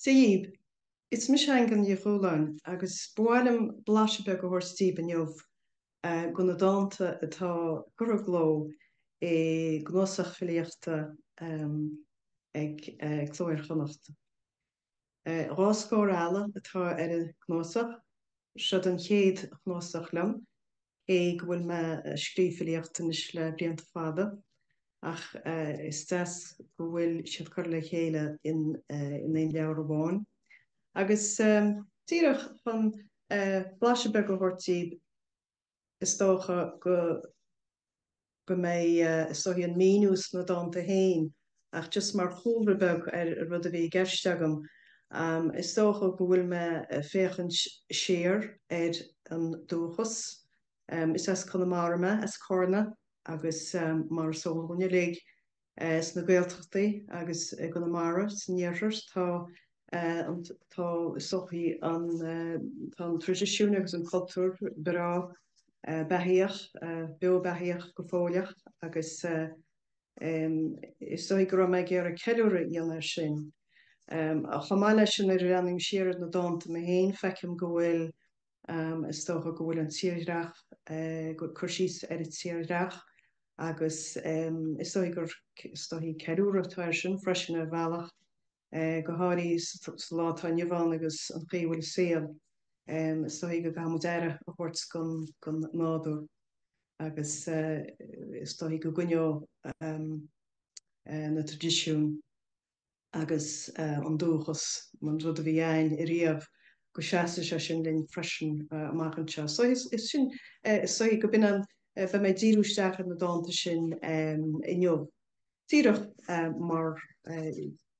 Dia dhaoibh, Is mise Aingeal Ní Chualáin agus ba mhaith liom blaiseadh beag a thabhairt daoibh inniu de na dánta atá curtha i gcló i gcnuasach filíochta ag Cló Iar-Chonnacht. Dhá scór eala atá ar an gcnuasach. Seod an chéad chnuasach liom, cé go bhfuil mé ag scríobh filíocht anois le blianta fada, ach is deas go bhfuil siad curtha le chéile in aon leabhar amháin. Agus díreach chun blaiseadh beag a thabhairt daoibh, is dócha go go mbeidh is dóichí an míniú sna dánta féin ach just mar chúlra beag ar an rud a bhí i gceist agam is dócha go bhfuil mé a' féachaint siar ar an dúchas is as Conamara mé, as Carna agus mar is eol dhúinn uilig, sna Gaeltachtaí agus i gConamara, san iarthar, tá, tá is dóichí, tá an traidisiún agus an cultúr breá beathaíoch, beo beathaíoch go fóilleach agus is dóichí go raibh mé ag iarraidh ceiliúradh a dhéanamh air sin. Chomh maith leis sin, nuair a bhreathnaím siar ar na dánta mé féin, feicim go bhfuil. Is dócha go bhfuil an tírdhreach, cur síos ar an tírdhreach agus is dóichí gur is dóichí ceiliúradh atá air sin freisin ar bhealach, go háirithe sa lá atá inniu ann agus an chaoi a bhfuil an saol, is dóichí go gcaithfidh muid aire a thabhairt don nádúr agus is dóichí go gcoinneoidh na traidisiúin agus an dúchas, an rud a bhí a'ainn ariamh, go seasfaidh sé sin linn freisin amach anseo. So is sin, is dóichí go b'in an, beidh mé ag díriú isteach ar na dánta sin inniu, díreach mar,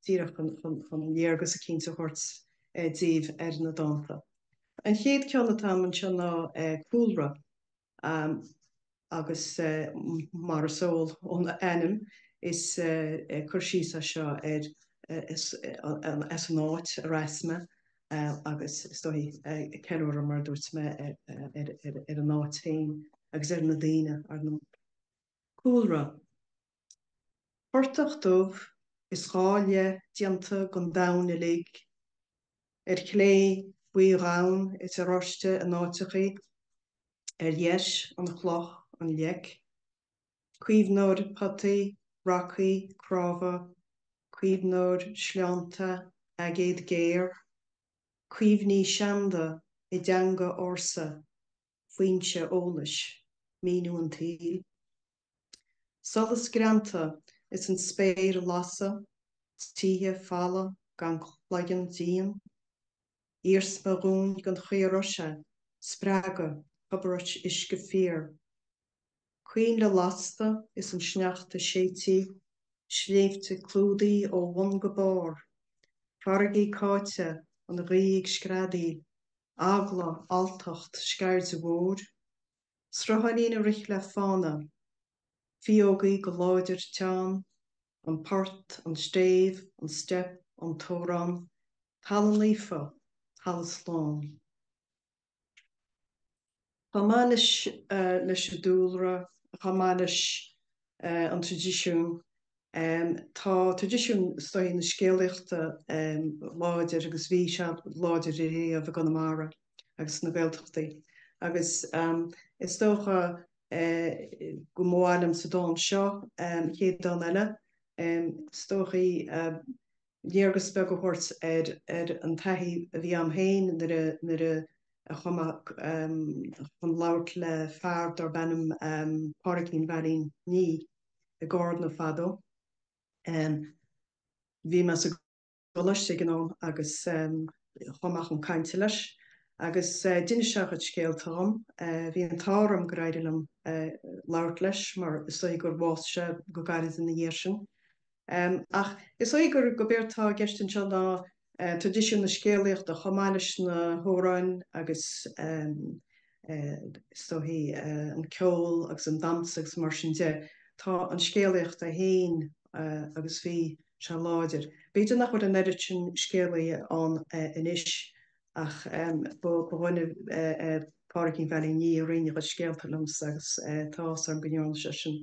díreach chun léargas eicínt a thabhairt daoibh ar na dánta. An chéad ceann atá a'm anseo ná Cúlra. agus mar is eol ón ainm, is cur síos é seo ar an áit ar as mé, agus is dóichí ceiliúradh, mar a dúirt mé, ar an áit féin agus ar na daoine. Cúlra, Portach dubh is dhá leith déanta den domhan uilig, ar clé, buídhonn is oráiste in áiteachaí, ar dheis, an chloch, an leic, caomhnóir potaí, racaí, cnámha, caomhnóir sleánta, aigéad géar, cuimhní seanda i dteanga ársa. foinse eolais, míniú an tsaoil, solas greanta is an spéir lasta, tithe falamha gan cloigeann díon, iarsma dhúin gan chaor oiseadh, spreagadh, tobar uisce fíor. Coinnle lasta is an sneachta séidte, sléibhte clúdaithe ó bhun go barr, farraigí cáite, an ghaoth ag screadaíl, eagla, alltacht, scaird mhór, srutháinín ag rith le fána, fíógaí go láidir teann, an port, an stéibh, an steip, an t-amhrán, talamh naofa, talamh slán. Chomh maith leis an dúlra, chomh maith leis an traidisiún, tá traidisiún is dóichí na scéalaíochta láidir agus bhí sé láidir riamh i gConamara agus sna Gaeltachtaí agus is dócha go mba mhaith liom sa dán seo, an chéad dán eile, is dóichí, léargas beag a thabhairt ar an taithí a bhí a'm féin nuair a chuaigh mé chun labhairt le fear darb ainm Pádraigín Veail Uí Nia i gCarna fadó. Bhí mé sa gcoláiste ag an am agus chuaigh mé chun cainte leis agus d'inis sé a chuid scéalta dhom. Bhí an t-ádh orm go raibh deis a'm labhairt leis mar is dóigh gur bhásaigh sé go gairid ina dhiaidh sin. Ach is dóigh gurb éard atá i gceist anseo ná traidisiún na scéalaíochta chomh maith leis na hamhráin agus, is dóichí, an ceol agus an damhsa agus mar sin de. Tá an scéalaíocht ann féin agus bhí sé láidir. B'fhéidir nach bhfuil an oiread sin scéalaithe ann anois ach ba dhuine é Pádraigín Veail Uí Nia a roinn a chuid scéalta liomsa agus tá áthas orm go ndearna sé sin.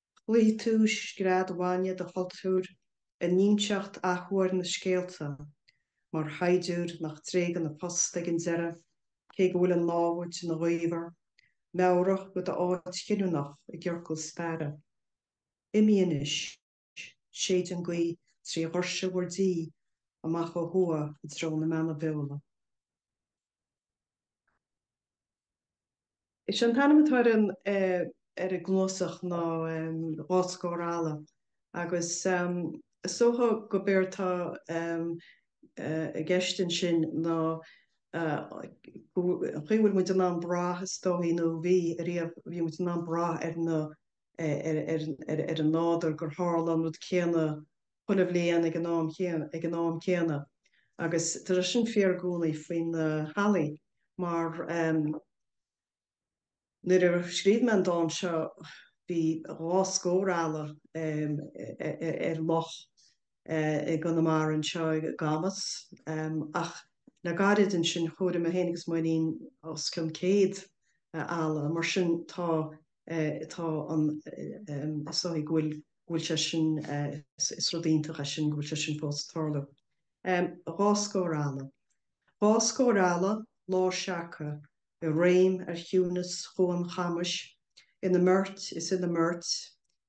Chloígh tú is grá daingean dod chultúr ag inseacht athuair na scéalta, mar shaighdiúir nach dtréigeann a phost ag an deireadh, cé go bhfuil an námhaid ina ghaobhar, meabhrach ar d'áit chinniúnach i gciorcal staire. Imigh anois. Séid an gaoth trí dhoirse bhur dtí, amach ó thuath i dtreo na mBeanna Beola. Is é an t-ainm atá ar an gcnuasach ná Dhá Scór Eala, agus is dócha gurb éard atá i gceist ansin ná an chaoi a bhfuil muid in ann brath, is dóigh, nó a bhí riamh, bhí muid in ann brath ar an nádúr, gur tharla an rud céanna. chuile bhliain ag an am céanna, ag an am céanna agus tar éis sin fíor i gcónaí faoi na hallaí mar ehm, nuair a scríobh mé an dán seo bhí dhá scór eala ehm, ar loch eh, i gConamara anseo i gCamas ehm, ach le gairid ansin chomhair mé féin agus Máirín os cionn céad eh, eala mar sin tá eh, tá an eh, ehm, is dóigh go bhfuil go bhfuil sé sin, is rud iontach é sin go bhfuil sé sin fós ag tarlú. Dhá scór eala. Dhá scór eala, lár seaca, i réim ar chiúineas Chuan Chamais, ina mbeirt is ina mbeirt,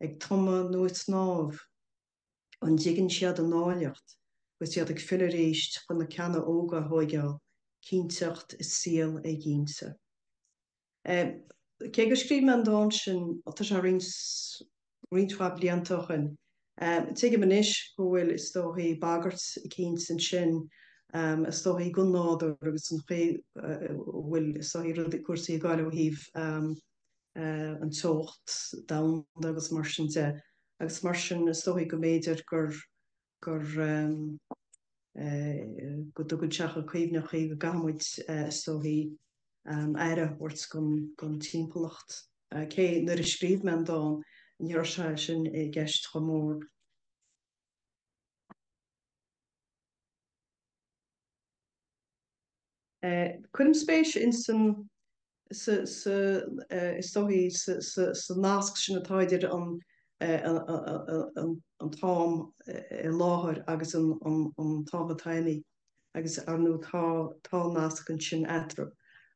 ag tumadh nó ag snámh. An dtuigeann siad a n-áilleacht agus iad ag filleadh arís chun na ceanna óga a thóigeáil, cinnteacht i saol éiginnte. Cé gur scríobh mé an dán sin, ó tá sé roinnt mhaith blianta ó shin, tuigim anois go bhfuil, is dóichí, bagairt eicínt ansin, is dóichí, don nádúr agus don chaoi a bhfuil, is dóichí, rudaí, cúrsaí ag gabháil ó thaobh an teocht domhanda agus mar sin de. Agus mar sin, is dóichí go mb'fhéidir gur. gur. go dtugann sé chun cuimhne chuí go gcaithfimid, is dóichí, aire a thabhairt don timpeallacht. Cé nuair a scríobh mé an dán, ní raibh sé sin i gceist chomh mór. Cuirim spéis insan, is dóichí, sa nasc sin atá idir an t-am i láthair agus an t-am atá imithe agus, ar ndóigh, tá nasc ansin eatarthu.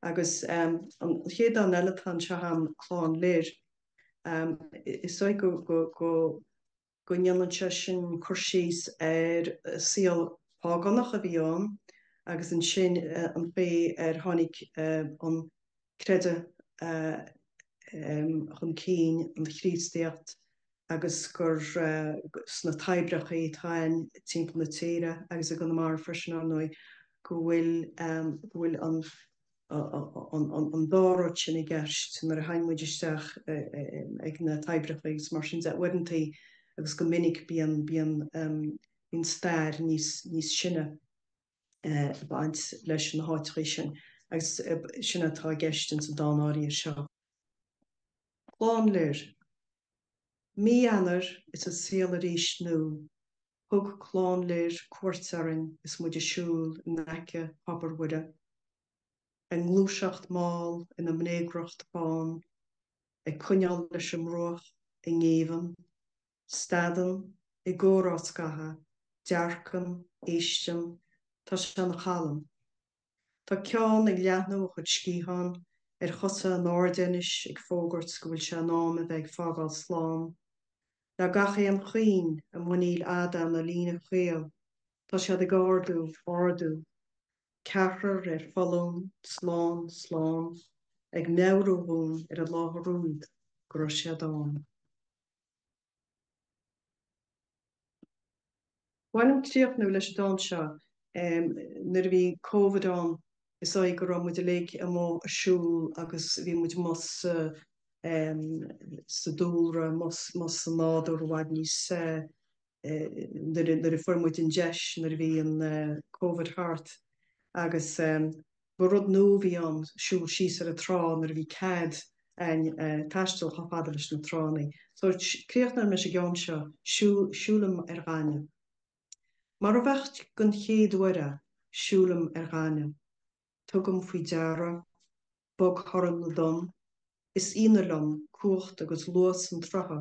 Agus an chéad dán eile atá anseo a'm, Clann Lir. Is dóigh go. go ndéanann sé sin cur síos ar shaol págánach a bhí ann agus ansin an chaoi ar tháinig an creideamh chun cinn, an Chríostaíocht, agus gur sna toibreacha atá timpeall na tíre, agus i gConamara freisin, ar ndóigh, go bhfuil an. an dá rud sin i gceist nuair a théann muid isteach ag na toibreacha agus mar sin de, uaireantaí agus go minic bíonn, bíonn, bíonn stair níos, níos sine ag baint leis na háiteachaí sin agus sin atá i gceist ins an dán áirithe seo. Clann Lir. Mí Eanáir is an saol arís nua. Thug Clann Lir cuairt orainn is muid ag siúl i n-aice Thobar Mhuire. A ngluaiseacht mall ina mbréagriocht bán, ag coinneál leis an mbruach i ngéibheann. Stadann, i gcomhrá scaitheamh, dearcann, éisteann, tá sé ina chalm. Tá ceann ag leathnú a chuid sciathán ar chosa in airde anois ag fógairt go bhfuil sé in am a bheith ag fágáil slán. Le gach aon chuing a muiníl fhada ina líne chaol tá siad ag ardú, ardú, ceathrar ar foluain, slán, slán, ag meabhrú dhúinn ar an láthair úd go raibh siad ann. Ba mhaith liom críochnú leis an dán seo nuair a bhí Covid ann is dóigh go raibh muid uilig amuigh ag siúl agus bhí muid amuigh sa dúlra, amuigh sa nádúr i bhfad níos nuair a fuair muid an deis nuair a bhí an Covid thart agus. Ba rud nua a bhí ann siúl síos ar an trá nuair a bhí cead a'inn taisteal chomh fada leis na tránna. So, críochnóidh mé leis an gceann seo, Siúlaim ar ghaineamh. Mar a bheadh den chéad uair a, Siúlaim ar ghaineamh. Tugaim faoi deara, bog-thorann na dtonn, Is ionadh liom cumhacht agus luas an tsrutha.